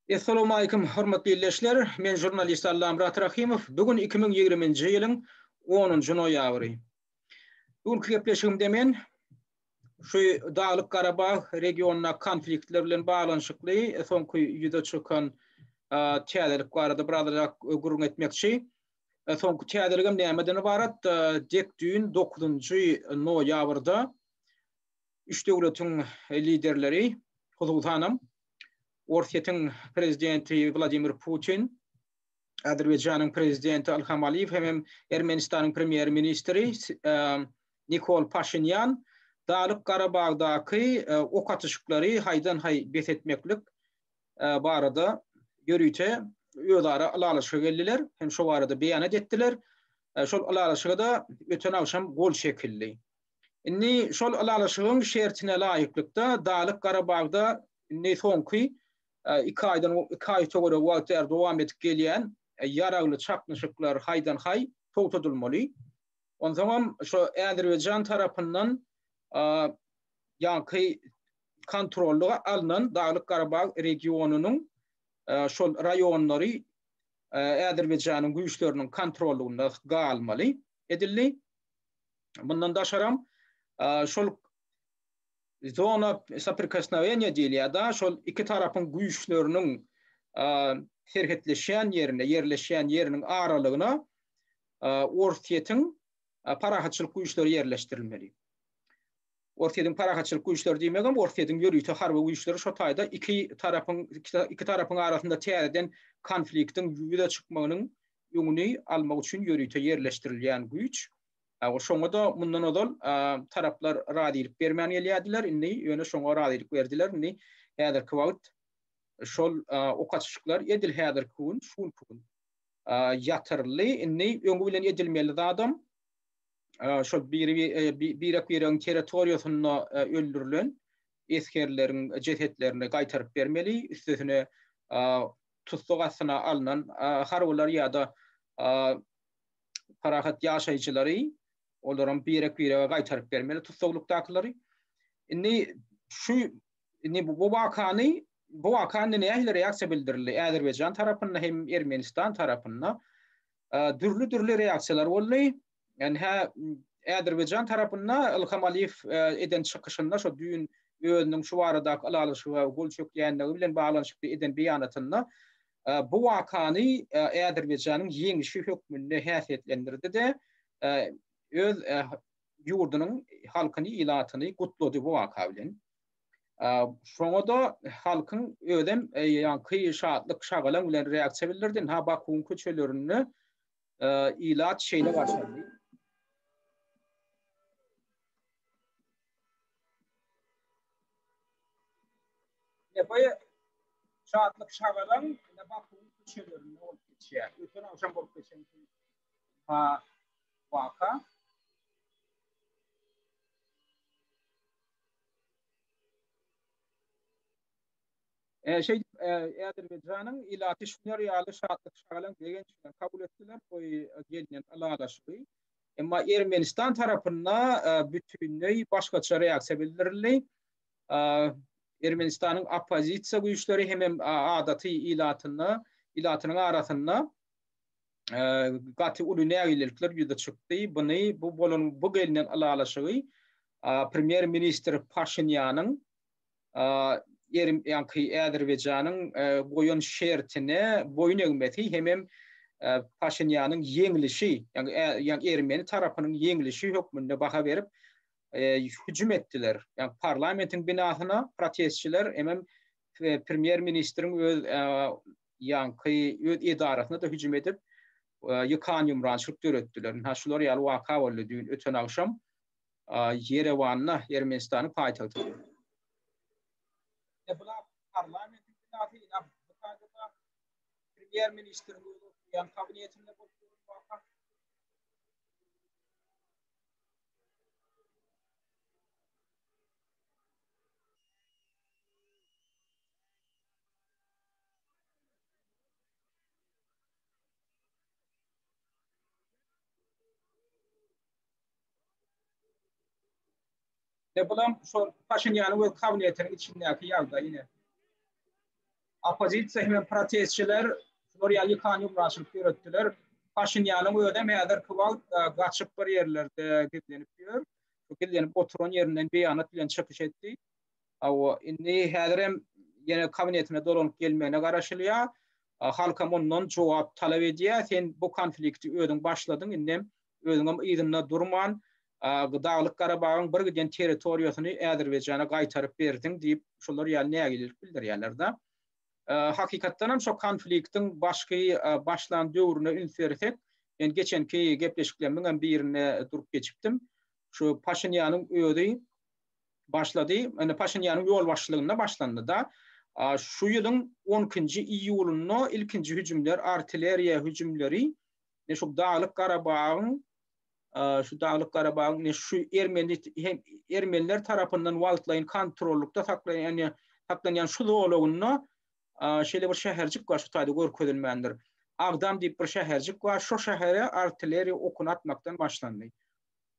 Essalowmalikim hormatly ildeşler, men žurnalist Allamyrat Rahymow, bu gün iki müň ýigriminji ýylyň onunjy noýabry. Bu günki gepleşigimde men şu Daglyk Garabag regionyndaky konfliktler bilen baglanyşykly soňky ýüze çykan täzelik barada birazajak gürrüň etmekçi. Soňky täzeligem nämeden ybarat? Dek düýn dokuzynjy noýabrda üç döwletiň liderleri, hususanam Orsýetiň prezidenti Wladimir Putin, Azerbaýjanyň prezidenti Ilham Aliýew hem-hem Ermenistanyň premýer-ministri Nikol Paşinýan Dagylyk Garabagdaky ok atyşyklary haýdan-haý bes etmeklik barada ýörite özara ylalaşyga geldiler hem şo barada beýanat etdiler. Şol ylalaşyga-da öten agşam gol çekildi. Indi şol ylalaşygyň şertine laýyklykda Dalyk Garabagda indi soňky iki aýdan iki aý töweregi wagt bäri dowam edip gelýän ýaragly çaknyşyklar haýdan-haý togtadylmaly. Onsoňam şo Äzerbaýjan tarapyndan ýaňky kontrollyga alnan Daglyk Garabag regionynyň şol raýonlary Äzerbaýjanyň güýçleriniň kontrollygynda galmaly edildi. Mundan daşaram şol zona sopirkosnowania diýilýär da, şol iki tarapyň güýçleriniň serhetleşýän ýerine, ýerleşýän ýeriniň aralygyna Orsýetiň parahatçylyk güýçleri ýerleşdirilmeli. Orsýetiň parahatçylyk güýçleri diýmegem Orsýetiň ýörite harby güýçleri şo taýda iki tarapyň iki tarapyň arasynda täzeden konfliktiň ýüze çykmagynyň öňüni almak üçin ýörite ýerleşdirilýän güýç. Şoňa-da mundan ozal taraplar razylyk bermän gelýärdiler, indi ýöne şoňa razylyk berdiler. Indi häzirki wagt şol ok atyşyklar edil häzirki gün, şu günki gün ýatyryldy. Indi öňi bilen edilmeli zadam, şol birek-biregiň territoriýasynda öldürilen esgerleriň jesetlerini gaýtaryp bermeli, üstesine tussag astyna alnan harbylar ýa-da parahat ýaşaýjylary olaryň birek-birege gaýtaryp bermeli tussaglykdakylary. Indi şu indi bu wakany bu waka nähili reaksiýa bildirildi Äzerbaýjan tarapynda hem Ermenistan tarapynda dürli-dürli reaksiýalar boldy. Ýani hä Äzerbaýjan tarapynda Ilham Aliýew eden çykyşynda şo düýn özüniň şu baradaky ylalaşyga gol çökýändigi bilen baglanyşykly eden beýanatynda bu wakany Äzerbaýjanyň ýeňişi hökmünde häsiýetlendirdi-de, öz ýurdunyň halkyny, ilatyny gutlady bu waka bilen. Şoňa-da halkyň özem ýaňky şatlyk şagalaň bilen reaksiýa bildirdi. Ha Bakuň köçelerinde ilat şeýle garşylady. Ebaýa şatlyk şagalaň ine bakyň köçelerinde bolup geçýär. Öten agşam bolup geçen ha waka. Şeýdip, Äzerbaýjanyň ilaty şular ýaly şatlyk-şagalaň, begenç bilen kabul etdiler bu gelnen ylalaşygy. Emma Ermenistan tarapynda bütinleý başgaça reaksiýa bildirildi. Ermenistanyň oppozisiýa güýçleri hemem adaty ilatynda ilatynyň arasynda gaty uly nägilelikler ýüze çykdy. Buny bu bolan bu gelnen ylalaşygy premýer ministr Paşinýanyň ýerim ýaňky Äzerbaýjanyň goýan şertine boýun egmesi hemem Paşinýanyň ýeňlişi, ýaňy ermeni tarapynyň ýeňlişi hökmünde baha berip hüjüm etdiler. Ýaňy parlamentiň binasyna protestçiler hemem premýer ministriň öz ýaňky öz edarasyna-da hüjüm edip, ýykan-ýumrançylyk döretdiler. Hä, şular ýaly waka boldy düýn, öten agşam Ýerewanda, Ermenistanyň paýtagtynda. Ine, bular parlamentiň binasy, ine, bu taýda-da premýer-ministriň özi oturýan kabinetinde bolup duran waka. E bulam şol Paşinýanyň we kabinetiniň içindäki ýagdaý ýene. Oppozisiýa hem protestçiler şular ýaly ýykan ýumraşylyk ýöretdiler. Paşinýanyň özi hem häzirki wagt e, gaçyp bir ýerlerde gizlenip ýör. Gizlenip oturan ýerinden beýanat bilen çykyş etdi. Hawa, indi häzirem ýene kabinetine dolanyp gelmegine garaşylýar. Halkam ondan jogap talap edýär, sen bu konflikti özüň başladyň, indem özüňem yzynda durman, Daglyk Garabagyň bir giden territoriýasyny Äzerbaýjana gaýtaryp berdiň diýip, şular ýaly nägilelik bildirýärler-de. Hakykatdanam şo konfliktiň başky başlan döwrüne üns bersek, men geçenki gepleşiklerimiziňem birinde durup geçipdim. Şu Paşinýanyň özi başlady. Indi Paşinýanyň ýolbaşçylygynda başlandy-da. Şu ýylyň on ikinji iýulynda ilkinji hüjümler, artilleriýa hüjümleri ine şu Daglyk Garabagyň, şu Daglyk Garabagyň ine şu ermeni hem ermeniler tarapyndan wagtlaýyn kontrollykda saklaýan saklanýan şu zolagynda şeýle bir şäherjik bar, şu taýda görkezilmändir. Agdam diýip bir şäherjik bar. Şu şähere artilleriýa okuny atmakdan başlandy.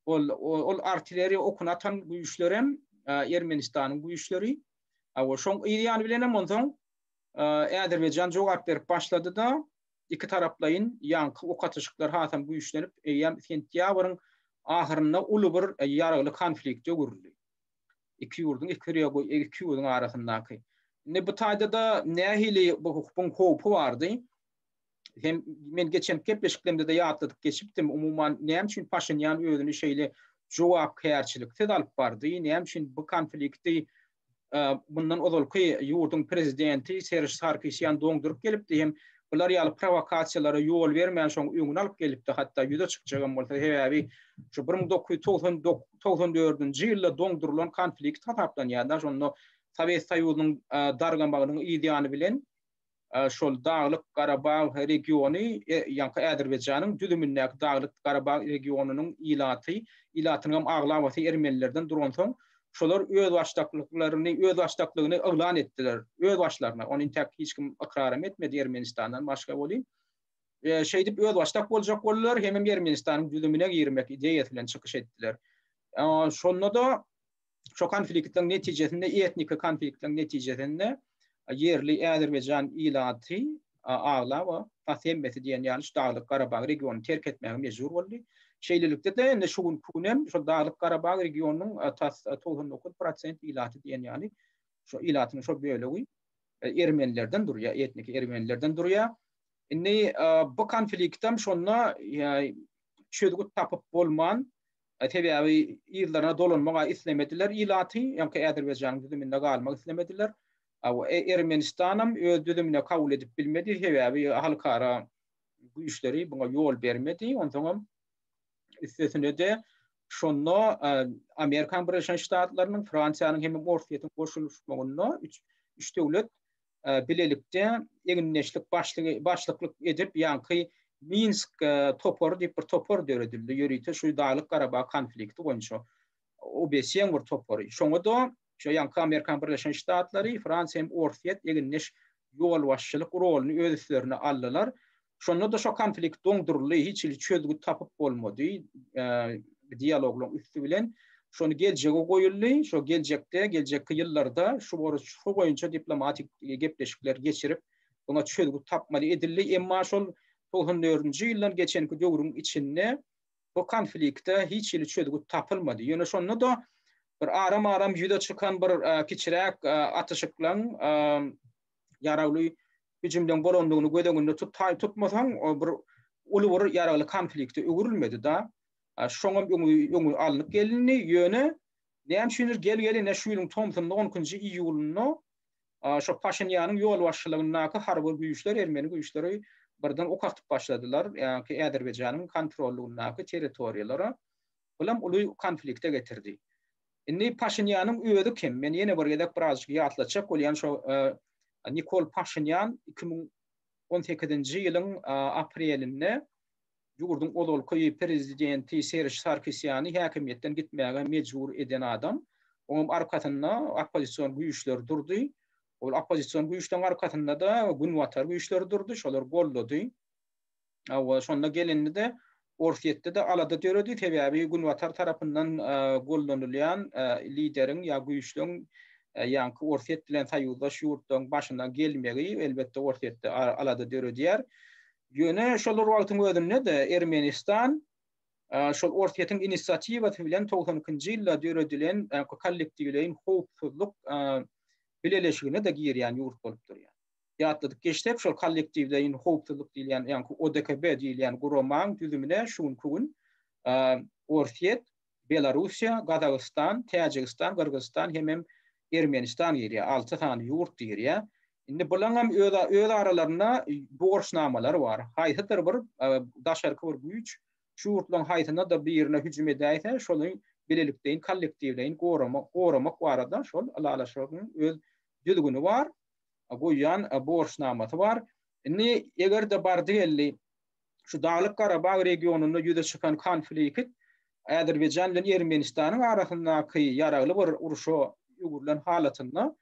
ol ol artilleriýa okuny atan güýçler hem Ermenistanyň güýçleri. Awa şoň yz ýany bilen hem onsoň Äzerbaýjan jogap berip başlady-da, iki taraplaýyn ýaňky ok atyşyklar hasam güýçlenip, eýýäm sentýabryň ahyrynda uly bir ýaragly konflikte öwrüldi. Iki ýurduň iki rego iki ýurduň arasyndaky. Indi bu taýda-da nähili bu howpy bardy? hem men geçen gepleşiklerimde de ýatladyp geçipdim. Umuman näme üçin Paşinýan özüni şeýle jogapkärçiliksiz alyp bardy? Näme üçin bu konflikti e, bundan ozalky ýurduň prezidenti Serž Sarkisýan doňduryp gelipdi hem bular ýaly provokasiýalara ýol bermän şoň öňüni alyp gelipdi hatda ýüze çykjagam bolsa sebäbi şu 1994-nji ýylda doňdurylan konflikt hasaplanýar da şonda Sowet Soýuzynyň e, dargamagynyň ýany bilen şol Daglyk Garabag regiony, ýaňky Äzerbaýjanyň düzümindäki Daglyk Garabag regionynyň ilaty, ilatynyňam aglabasy ermenilerden duransoň, şolar özbaşdaklyklaryny, özbaşdaklygyny yglan etdiler, özbaşlaryna, ony intäk hiç kim ykraram etmedi Ermenistandan başga welin, şeýdip özbaşdak boljak boldular, hemem Ermenistanyň düzümine girmek ideýasy bilen çykyş etdiler. Şonda-da. şu konfliktiň netijesinde, etniki konfliktiň netijesinde ýerli Äzerbaýjan ilaty aglaba, has hemmesi diýen ýaly şu Daglyk Garabag regionyny terk etmäge mejbur boldy. Şeýlelikde-de indi şu günki gün hem şol Daglyk Garabag regionynyň tas togsan dokuz prosent ilaty diýen ýaly şu ilatyň şu bölegi ermenilerden durýar, etniki ermenilerden durýar. Indi bu konflikt hem şonda çözgüt tapyp bolman Sebäbi yzlaryna dolanmaga islemediler ilaty, ýaňky Azerbaýjanyň düzüminde galmak islemediler. Ermenistanam öz düzümine kabul edip bilmedi, sebäbi halkara güýçleri buňa ýol bermedi. Onsoňam üstesine-de şonda Amerikan Birleşen Ştatlarynyň, Fransiýanyň hem-de Orsýetiň goşulyşmagynda üç döwlet bilelikde egindeşlik başlygy başlyklyk edip ýaňky Minsk topary diýip bir topar döredildi. Ýörite şu Daglyk Garabag konflikti boýunça OBSE-niň bir topary. Şoňa da şu ýaňky Amerikan Birleşen Ştatlary, Fransiýa hem Orsýet egindeş ýolbaşçylyk roluny öz üstlerine aldylar. Şonda-da şo konflikt doňduryldy, hiç hili çözgüt tapyp bolmady. Dialoglaryň üsti bilen şony geljege goýuldy. Şo geljekde, geljekki ýyllarda şu boruç, şu boýunça diplomatik gepleşikler geçirip, muňa çözgüt tapmaly edildi. Emma şol togsan dördünji ýyldan geçenki döwrüň içinde bu konflikte hiç hili çözgüt tapylmady. Ýöne şonda-da bir aram-aram ýüze çykan bir kiçiräk atyşyklaň ýaragly hüjümden gorandygyny göz öňünde tutaý tutmasaň, o bir uly bir ýaragly konflikte öwrülmedi-da. Şoňam öňi öňi alnyp gelindi, ýöne näme üçindir gel-gelene şu ýylyň tomsunyň on ikinji iýulynda şo Paşinýanyň ýolbaşçylygyndaky harby güýçler, ermeni güýçleri birden ok atyp başladylar, ýa-ki Äzerbaýjanyň kontrollygyndaky territoriýalara. Bulam uly konflikte getirdi. Indi Paşinýanyň özi kim? Men ýene bir gezek birazjyk ýatlatjak bolýan şo Nikol Paşinýan iki müň on sekizinji ýylyň aprelinde ýurduň ozalky prezidenti Serž Sarkisýany häkimiýetden gitmäge mejbur eden adam. Onuň arkasynda oppozision güýçler durdy. Ol oppozision güýçleriň arkasynda-da günbatar güýçleri durdy, şolar goldady. Hawa, şonda gelindi-de, Orsýetde-de alada döredi, sebäbi Günbatar tarapyndan gollanylýan lideriň ýa güýçlüň ýaňky Orsýet bilen soýuzdaş ýurtlaryň başyna gelmegi, elbetde, Orsýetde alada döredýär. Ýöne şol bir wagtyň özünde-de Ermenistan şol Orsýetiň inisiatiwasy bilen togsan ikinji ýylda döredilen Kollektiwleýin howpsuzlyk bileleşigine-de girýän ýurt bolup durýar. ýatladyp geçsek, şol kollektiwleýin howpsuzlyk diýilýän, ýagny ODKB diýilýän guramaň düzümine şu günki gün Orsýet, Belarussiýa, Gazagystan, Täjigistan, Gyrgyzystan hemem Ermenistan girýär. Alty sany ýurt girýär. Indi bulaňam öz aralarynda borçnamalary bar. Haýsydyr bir daşarky bir güýç şu ýurtlaryň haýsyna-da birine hüjüm edäýse, şoly bilelikdeýin kollektiwleýin goramak barada şol ylalaşygyň öz düzgüni bar. goýýan borçnamasy bar. Indi eger-de bardy geldi şu Daglyk Garabag regionynda ýüze çykan konflikt Azerbaýjan bilen Ermenistanyň arasyndaky ýaragly bir urşa öwrülen halatynda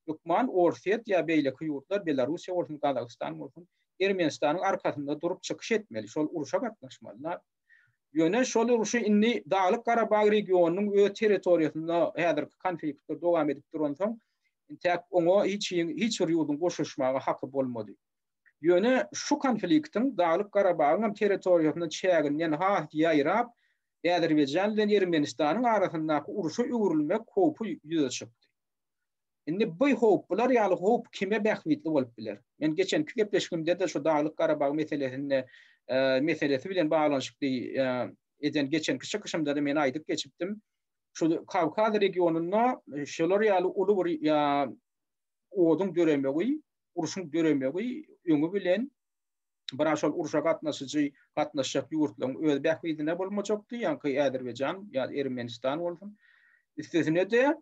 hökman Orsýet ýa beýleki ýurtlar Belarussiýa bolsun Gazagystan bolsun Ermenistanyň arkasynda durup çykyş etmeli şol urşa gatnaşmalylar. Ýöne şol urşy indi Daglyk-Garabag regionynyň öz territoriýasynda häzirki konfliktler dowam edip duransoň, intäk oňa hiç kim, hiç bir ýurduň goşuşmaga haky bolmady. Ýöne şu konfliktiň Daglyk-Garabagyň hem territoriýasyna çäginden has ýaýrap, Äzerbaýjan bilen Ermenistanyň arasyndaky urşa öwrülmek howpy ýüze çykdy. Indi bu howp, bular ýaly howp kime bähbitli bolup biler? Men geçenki gepleşigimde-de şu Daglyk-Garabag meselesinde, meselesi bilen baglanyşykly eden geçenki çykyşymda-da men aýdyp geçipdim. Şu Kawkaz regionynda şular ýaly uly bir oduň döremegi, urşuň döremegi öňi bilen biraz şol urşa gatnaşyjy, gatnaşjak ýurtlaryň öz bähbidine bolmajakdy, ýa-da Azerbaýjan, ýa-da Ermenistan bolsun. Üstesine-de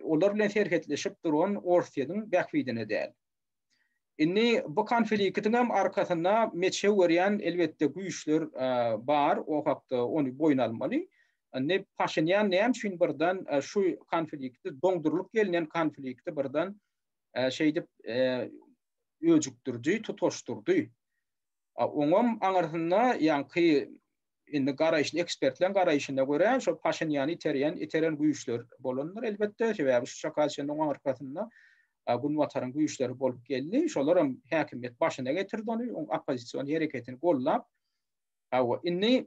olar bilen serhetleşip duran Orsýetiň bähbidine däl. Indi bu konfliktiň hem arkasynda meçew görýän elbetde güýçler bar, o hakda ony boýun almaly. Indi Paşinýan näme üçin birden şu konflikti doňdurylyp gelinen konflikti birden şeýdip öjükdirdi, tutaşdyrdy. Oňam aňyrsynda ýaňky indi garaýyşly ekspertleň garaýşyna görä şo Paşinýany iterýän iteren güýçler bolandyr elbetde sebäbi şu çaka çenli oň arkasynda Günbataryň güýçleri bolup geldi şolaram häkimiýet başyna getirdi ony oň oppozision hereketini gollap Awa, indi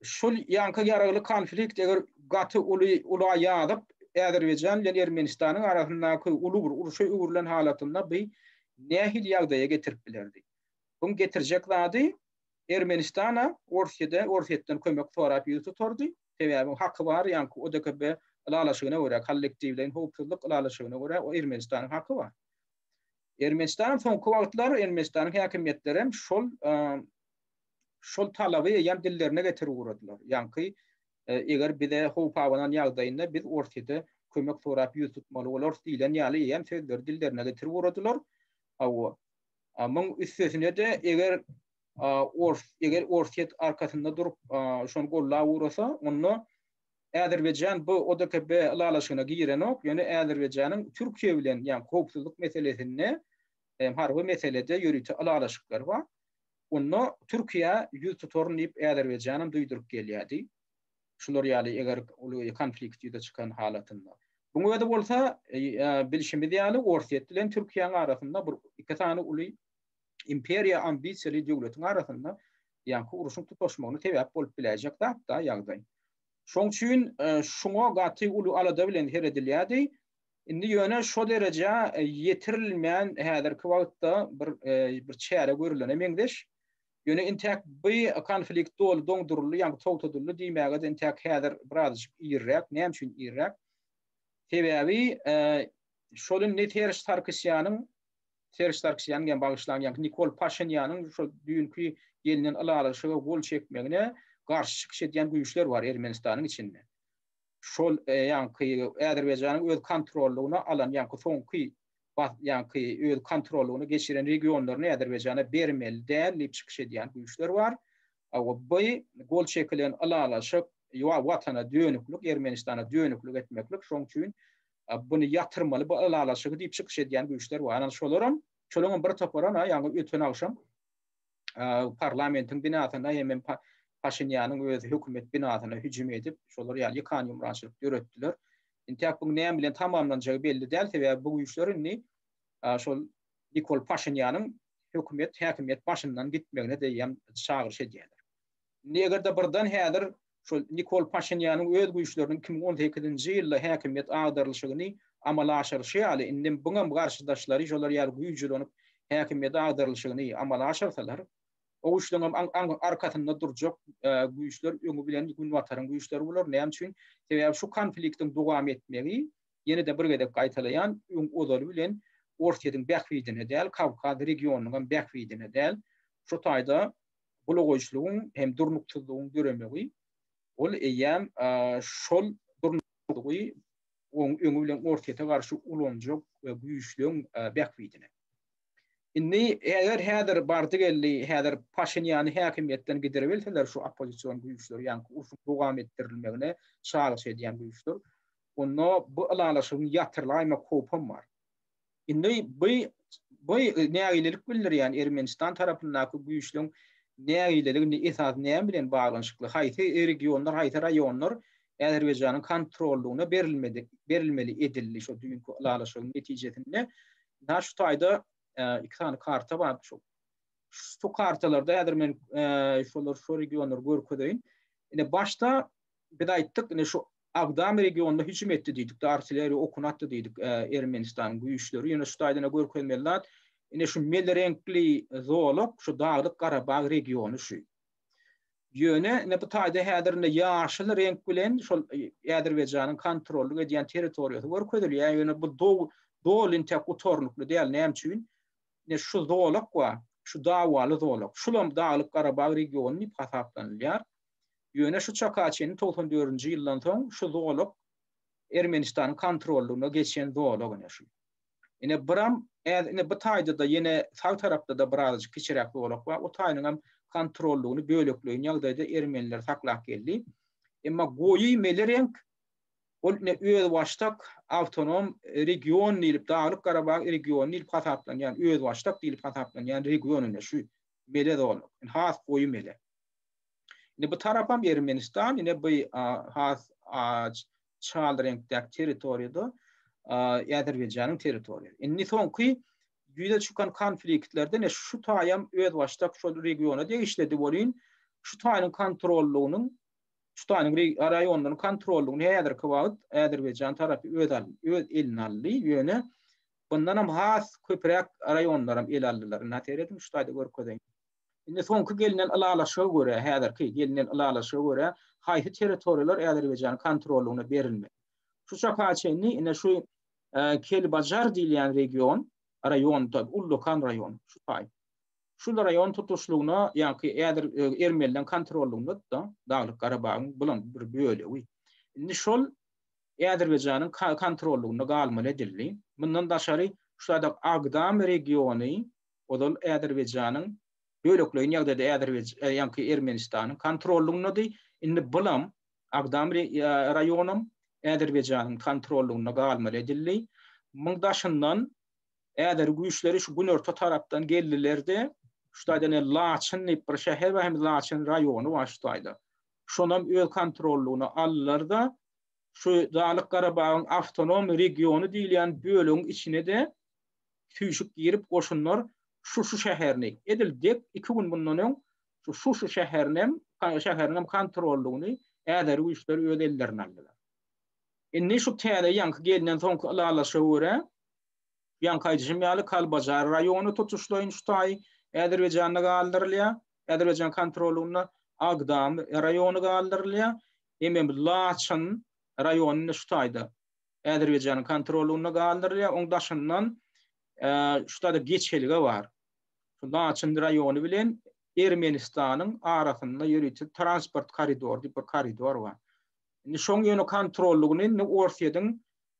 şul ýanka ýaragly konflikt eger gaty uly ula ýazyp Äzerbaýjan bilen Ermenistanyň arasyndaky uly bir uruşa öwrülen halatynda bu nähili ýagdaýa getirip bilerdi? Buň getirjek zady Ermenistan-a Orsýede, Orsýetden kömek sorap ýüz tutardy, sebäbi haky bar, ýaňky ODKB ylalaşygyna görä, kollektiwleýin howpsuzlyk ylalaşygyna görä o Ermenistanyň haky bar. Ermenistan soňky wagtlar Ermenistanyň häkimiýetlerem şol şol talaby eýýäm dillerine getirip ugradylar. Ýaňky eger bize howp abanan ýagdaýynda biz Orsýede kömek sorap ýüz tutmaly bolarys diýlen ýaly eýýäm sözleri dillerine getirip ugradylar. Hawa, Muň üstesine-de eger ors eger Orsýet arkasynda durup şony gollap ugrasa, onda Äzerbaýjan bu ODKB ylalaşygyna girenok, ýöne Äzerbaýjanyň Türkiýe bilen, ýagny howpsuzlyk meselesinde, harby meselede ýörite ylalaşyklary bar. Onda Türkiýä ýüz tutaryn diýip Äzerbaýjanam duýduryp gelýärdi. Şular ýaly eger uly konflikt ýüze çykan halatynda. Buň özi bolsa, bilşimiz ýaly, Orsýet bilen Türkiýäň arasynda bir iki sany uly imperiýa ambisiýaly döwletiň arasynda ýaňky urşuň tutaşmagyna sebäp bolup biläýjek zat-da ýagdaý. Şoň üçin şuňa gaty uly alada bilen seredilýärdi. Indi ýöne şo derejä ýetirilmän häzirki wagtda bir bir çäre görülene meňzeş. Ýöne intäk bi konflikt doly doňduryldy, ýagny togtadyldy diýmäge-de intäk häzir birazajyk irräk. Näme üçin irräk? Sebäbi şol indi Serž Sarkisýanyň, Serž Sarkisýanyň ýa bagyşlaň, ýagny Nikol Paşinýanyň şol düýnki gelnen ylalaşyga gol çekmegine garşy çykyş edýän güýçler bar Ermenistanyň içinde. şol ýaňky Azerbaýjanyň öz kontrollygyna alan ýaňky soňky ýaňky öz kontrollygyna geçiren regionlaryny Azerbaýjana bermeli däl diýip çykyş edýän güýçler bar. By gol çekilen ylalaşyk ýa watana dönüklik, Ermenistana dönüklik etmeklik, şoň üçin buny ýatyrmaly bu ylalaşygy diýip çykyş edýän güýçler bar. Ynha şolaram, şolaryň bir toparam ýaňky öten agşam, parlamentiň binasynda hem Paşinýanyň özi hökümet binasyna hüjüm edip, şolar ýaly ýykan ýumrançylyk döretdiler. Entäk bu näme bilen tamamlanjagy belli däl, sebäbi bu güýçler indi şol Nikol Paşinýanyň hökümet häkimiýet başyndan gitmegine-de çagyryş edýärler. Indi eger-de birden häzir şol Nikol Paşinýanyň öz güýçleriniň iki müň on sekizinji ýylda häkimiýet agdarylyşygyny amala aşyryşy ýaly, indem buňam garşydaşlary şolar ýaly güýjülonip häkimiýet agdarylyşygyny amala aşyrsalar, o güýçleriňem arkasynda durjak güýçler öňi bilen Günbataryň güýçleri bolar. Näme üçin? Sebäbi şu konfliktiň dowam etmegi, ýene-de bir gezek gaýtalaýan, öň ozaly bilen Orsýetiň bähbidine däl, Kawkaz regionynyňam bähbidine däl. Şu taýda bulagoýçylygyň hem durnuksyzlygyň döremegi ol eýýäm şol durnuksyzlygy oň öňi bilen Orsýete garşy ulanjak güýçlüň bähbidine. Indi eger häzir bardy geldi, häzir Paşinýany häkimiýetden giderebilseler şu oppozision güýçler, ýa-ni urşuň dowam etdirilmegine çagyryş edýän güýçler, onda bu ylalaşygyň ýatyrylaýmak howpam bar. Indi bu bu nägilelik bildirýän Ermenistan tarapyndaky güýçlüň nägileligini esas näme bilen baglanyşykly? Haýsy regionlar, haýsy raýonlar Azerbaýjanyň kontrollygyna berilmedi, berilmeli edildi şu düýnki ylalaşygyň netijesinde? Nä şu taýda iki sany karta bar. Şu şu kartalarda häzir men şolar şu regionlary görkezeýin. Ine başda biz aýtdyk, ine şu Agdam regionyna hüjüm etdi diýdik-de, artilleriýa okuny atdy diýdik Ermenistanyň güýçleri. Ýöne şu taýdan-a görkezmeli zat, ine şu mel reňkli zolak şu Daglyk Garabag regiony şu. Ýöne ine bu taýda häzir indi ýaşyl reňk bilen şol Äzerbaýjanyň kontrollyk edýän territoriýasy görkezilýär. Ýöne bu doly intäk gutarnykly däl. Näme üçin? Ine şu zolak bar, şu dawaly zolak. Şulam Daglyk Garabag regiony diýip hasaplanylýar. Ýöne şu çaka çenli togsan dördünji ýyldan soň şu zolak Ermenistanyň kontrollygyna geçen zolak ine şu. Ine buram äz ine bu taýda-da ýene sag tarapda-da birazajyk kiçiräk zolak bar. O taýynyň hem kontrollygyny bölekleýin ýagdaýda ermeniler saklap geldi. Emma goýy meli reňk ol ine özbaşdak awtonom region diýlip Daglyk Garabag regiony diýlip hasaplanýan, özbaşdak diýlip hasaplanýan region ine şu mele zolak. Has goýy mele. Indi bu tarapam Ermenistan, ine bu has aç çal reňkdäki territoriýada Äzerbeýjanyň territoriýasy. Indi soňky ýüze çykan konfliktlerde ne şu taýam özbaşdak şol regiona degişlidi bolýyn, şu taýyň kontrollygynyň, şu taýyň raýonlaryň kontrollygyny häzirki wagt Äzerbeýjan tarapy öz öz eline aldy, ýöne bundanam has köpräk raýonlaram ele aldylar. Indi seredin şu taýda görkezeýin. Indi soňky gelnen ylalaşyga görä, häzirki gelnen ylalaşyga görä, haýsy territoriýalar Äzerbaýjanyň kontrollygyna berilmeli? Şu çaka çenli ine şu Kelbajar diýilýän region, raýon, tab, ullakan raýon, şu taý. Şul raýon tutuşlygyna, ýaňky äzer, ermenileriň kontrollygynda-da, Daglyk Garabagyň bulam bir bölegi. Indi şol Äzerbaýjanyň kontrollygynda galmaly edildi. Mundan daşary, şu ýerde Agdam regiony, ozal Äzerbeýjanyň, bölekleýin ýagdaýda Äzerbeýj, ýaňky Ermenistanyň kontrollygyndady, indi bulam, Agdam re, raýonam Äzerbeýjanyň kontrollygynda galmaly edildi. Muň daşyndan, äzeri güýçleri şu günorta tarapdan geldiler-de, şu taýdan el Laçyn diýip bir şäher bar, hem Laçyn raýony bar şu taýda. Şonam öz kontrollygyna aldylar-da, şu Dalyk Garabagyň awtonom regiony diýilýän bölegiň içine-de süýşüp girip goşunlar Şuşy şäherini, edil dek iki gün mundan öň şu Şuşy şäherinem, şäheriniňem kontrollygyny äzeri güýçler öz ellerine aldylar. Indi şu täze ýaňky gelnen soňky ylalaşyga görä, ýaňky aýdyşym ýaly Kalbajar raýony tutuşlaýyn şu taýy Äzerbaýjanda galdyrylýar, Äzerbaýjan kontrollygynda Agdam raýony galdyrylýar, emem Laçyn raýony indi şu taýda. Azerbaýjanyň kontrolynda galdyrylýar. Oň daşyndan şutada geçelge bar. Laçyn raýony bilen Ermenistanyň arasynda ýörite transport koridory diýip bir koridor bar. Indi şoň ýöne kontrollygyny indi Orsýetiň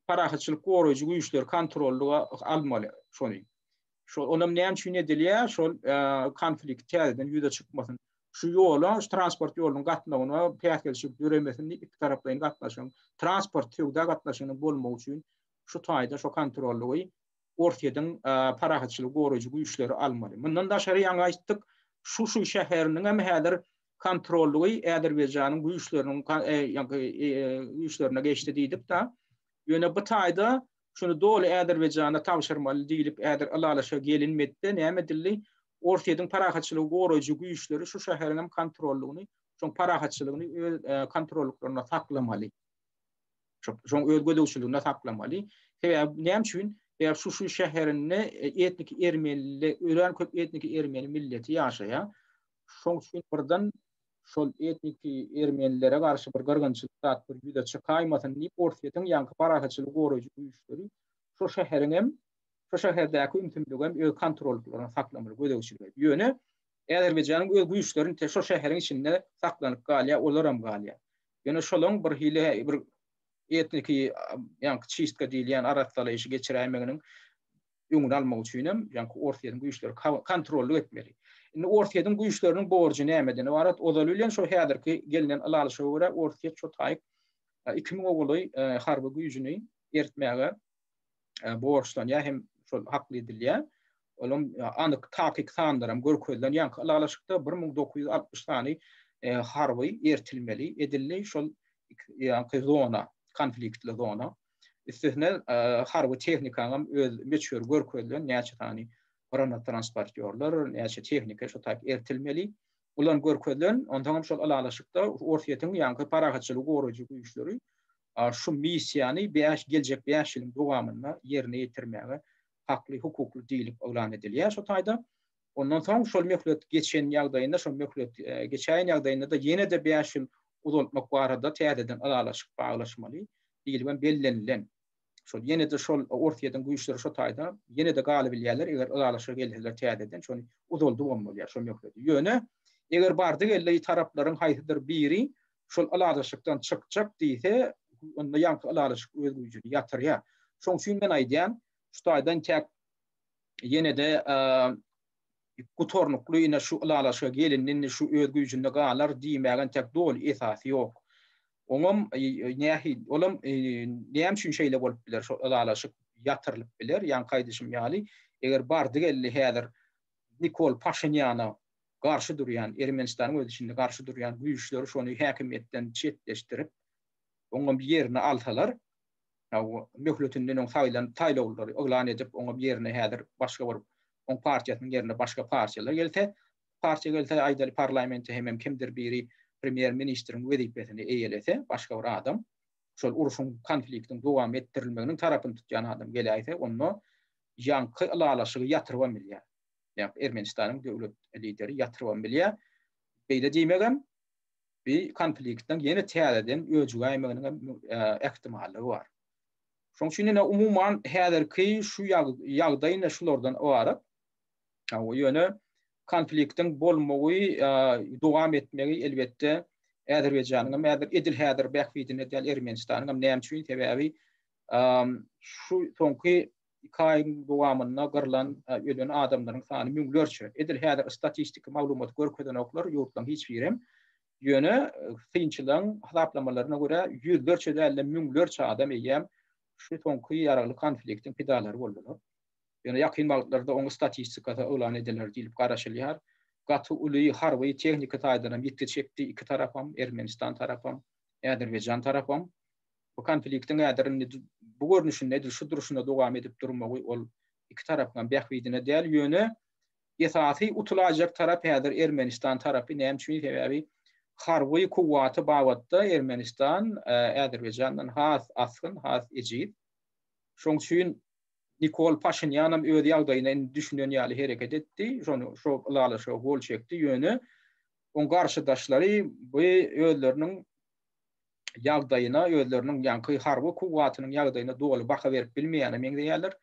parahatçylyk goraýjy güýçleri kontrollyga almaly şony. Şol olam näme üçin edilýär? Şol konflikt täzeden ýüze çykmasyn. Şu ýola, şu transport ýolunyň gatnawyna päsgelçilik döremesin diýip, iki taraplaýyn gatnaşygyň, transport söwda gatnaşygynyň bolmagy üçin şu taýda şu kontrollygy Orsýetiň parahatçylygy goraýjy güýçleri almaly. Mundan daşary ýaňy aýtdyk, Şuşy şäheriniň hem häzir kontrollygy Äzerbaýjanyň güýçleriniň güýçlerine geçdi diýdik-de. Ýöne bu taýda Şuny doly Azerbaýjana tabşyrmaly diýlip häzir ylalaşyga gelinmedi-de, näme edildi? Orsýetiň parahatçylygy goraýjy güýçleri şu şäheriň hem kontrollygyny, şoň parahatçylygyny öz kontrollyklarynda saklamaly. Şoň öz gözegçiliginde saklamaly. Sebäbi näme üçin? Sebäbi şu şu şäherinde etniki ermeniler, örän köp etniki ermeni milleti ýaşaýar. Şoň üçin birden şol etniki ermenilere garşy bir gyrgynçylyk zat bir ýüze çykaýmasyn diýip, Orsýetiň ýaňky parahatçylygy goraýjy güýçleri şo şäheriň hem, şo şäherdäki ümsümligi hem öz kontrollyklaryna saklamaly, gözegçilik edip. Ýöne Äzerbaýjanyň öz güýçlerini te şo şäheriň içinde saklanyp galýar, olar hem galýar. Ýöne şolaň bir hili bir etniki ýaňky çistka diýilýän arassalaýşy geçiräýmeginiň öňüni almak üçin hem ýaňky Orsýetiň güýçleri kontrollyk etmeli. Indi Orsýetiň güýçleriniň borjy nämeden ybarat? Ozaly bilen şo häzirki gelnen ylalyşa görä Orsýet şo taýyk iki müňe golaý harby güýjüni eritmäge borçlanýar hem şol hakly edilýär. Olam anyk takyk sanlar hem görkezilen ýaňky ylalyşykda bir müň dokuz ýüz altmyş sany harby ertilmeli edildi şol ýaňky zona, konfliktli zona. Üstesine harby tehnikanyň öz möçberi görkezilen näçe sany granat transportýorlar, näçe tehnika şu taýyp ertilmeli. Ulan görkezilen, ondan hem şol ylalaşykda Orsýetiň ýaňky parahatçylygy goraýjy güýçleri şu missiýany bäş geljek bäş ýylyň dowamynda ýerine ýetirmäge hakly, hukukly diýlip yglan edilýär şu taýda. Ondan soň şol möhlet geçen ýagdaýynda, şol möhlet geçäýen ýagdaýynda-da ýene-de bäş ýyl uzaltmak barada täzeden ylalaşyk baglaşmaly diýlip hem bellenilen. Şol ýene-de şol Orsýetiň güýçleri şo taýda ýene-de galybilýärler, eger ylalaşyga gelseler täzeden şony uzaldyp hem bolýar şol möhleti. Ýöne eger bardy-geldi taraplaryň haýsydyr biri şol ylalaşykdan çykjak diýse, onda ýaňky ylalaşyk öz güýjüni ýatirýär. Şoň üçin men aýdýan, şu taýdan tek ýene-de gutarnykly ine şu ylalaşyga gelindi, indi şu öz güýjünde galar diýmäge entek doly esas ýok. Oňam nähi, olam näme üçin şeýle bolup biler, şo ylalaşyk ýatyrylyp biler, ýaňky aýdyşym ýaly, eger bardy geldi häzir Nikol Paşinýana garşy durýan, Ermenistanyň öz içinde garşy durýan güýçleri şony häkimiýetden çetleşdirip, oňam ýerini alsalar, möhletinden öň saýlan saýlawlary yglan edip, oňa ýerine häzir başga bir oň partiýasynyň ýerine başga partiýalar gelse, partiýa gelse, aýdaly parlamente hemem kimdir biri premýer ministriň wezipesini eýelese, başga bir adam, şol urşuň, konfliktiň dowam etdirilmeginiň tarapyny tutýan adam geläýse, onda ýaňky ylalaşygy ýatyrybam bilýär. Ermenistanyň döwlet lideri ýatyrybam bilýär. Beýle diýmegem. bi konfliktiň ýene täzeden öjügäýmeginiň hem ähtimallygy bar. Şoň üçin ýene umuman häzirki şu ýagdaý ýene şulardan ybarat. Ýöne konfliktiň bolmagy, dowam etmegi elbetde Äzerbaýjanyň hem häzir edil häzir bähbidine däl, Ermenistanyň hem näme üçin? Sebäbi şu soňky iki aýyň dowamynda gyrlan, ölen adamlaryň sany müňlerçe. Edil häzir statistiki maglumaty görkezenoklar ýurtlaryň hiç birem. Ýöne synçylaryň hasaplamalaryna görä, ýüzlerçe däl-de müňlerçe adam eýýäm şu soňky ýaragly konfliktiň pidalary boldular. Ýöne ýakyn wagtlarda oň statistikasy yglan ediler diýlip garaşylýar. Gaty uly harby tehniki taýdan hem ýitgi çekdi iki tarapam, Ermenistan tarapam, Äzerbaýjan tarapam. Bu konfliktiň häzir indi bu görnüşinde edil şu durşuna dowam edip durmagy ol iki tarapyňam bähbidine däl, ýöne esasy utulajak tarap häzir Ermenistan tarapy, näme üçin sebäbi harby kuwwaty babatda Ermenistan Äzerbaýjandan has asgyn, has ejiz. Şoň üçin Nikol Paşinýanam öz ýagdaýyna indi düşünen ýaly hereket etdi, şony şu ylalaşyga gol çekdi, ýöne oň garşydaşlary bu özleriniň ýagdaýyna, özleriniň ýaňky harby kuwwatynyň ýagdaýyna doly baha berip bilmeýäne meňzeýärler.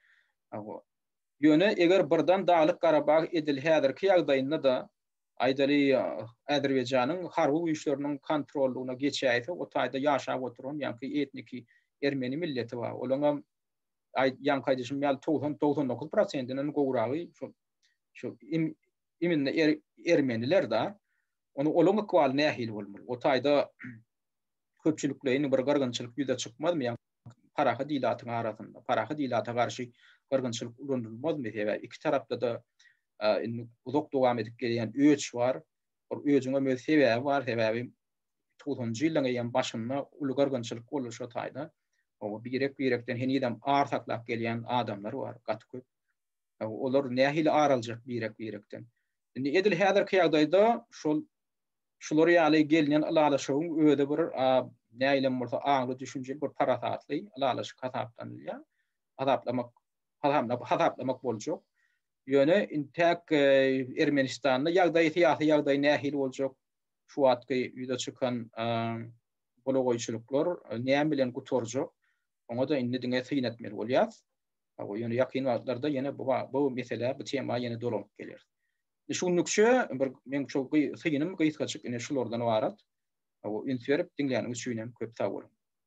Ýöne eger birden Daglyk-Garabag edil häzirki ýagdaýynda-da, aýdaly, Azerbaýjanyň harby güýçleriniň kontrollygyna geçäýse, o taýda ýaşap oturan ýaňky etniki ermeni milleti bar. Olaňam, ýaňky aýdyşym ýaly, togsan, togsan dokuz prosentinden gowragy şol, şol iminli ermeniler-de. Onda olaň ykbaly nähili bolmaly? O taýda köpçülikleýin bir gyrgynçylyk ýüze çykmazmy? Ýa parahat ilatyň arasynda, parahat ilata garşy gyrgynçylyk ulanylmazmy? Sebäbi iki tarapda-da indi uzak dowam edip gelýän öç bar. Ol öjüň hem öz sebäbi bar, sebäbi togsanjy ýyllaryň eýýäm başynda uly gyrgynçylyk boldy şo taýda. Birek-birekden henizem ar saklap gelýän adamlar bar, gaty köp. Olar nähili ar aljak birek-birekden? Indi edil häzirki ýagdaýda şol şular ýaly gelnen ylalaşygyň özi bir nähilem bolsa aňly, düşünjeli, bir parasatly ylalaşyk hasaplanylýar. Hasaplamak, hasaplamak boljak. Ýöne intäk Ermenistanda ýagdaý, syýasy ýagdaý nähili boljak? Şu wagtky ýüze çykan golagoýçulyklar näme bilen gutarjak? Oňa-da indi diňe syn etmeli bolýar. Hawa, ýöne ýakyn wagtlarda ýene bu bu meselä, bu tema ýene dolanyp geler. Şu günlükçe bir men şu synym gysgaçyk ine şulardan ybarat. Hawa, üns berip diňläniňiz üçin hem köp sag boluň.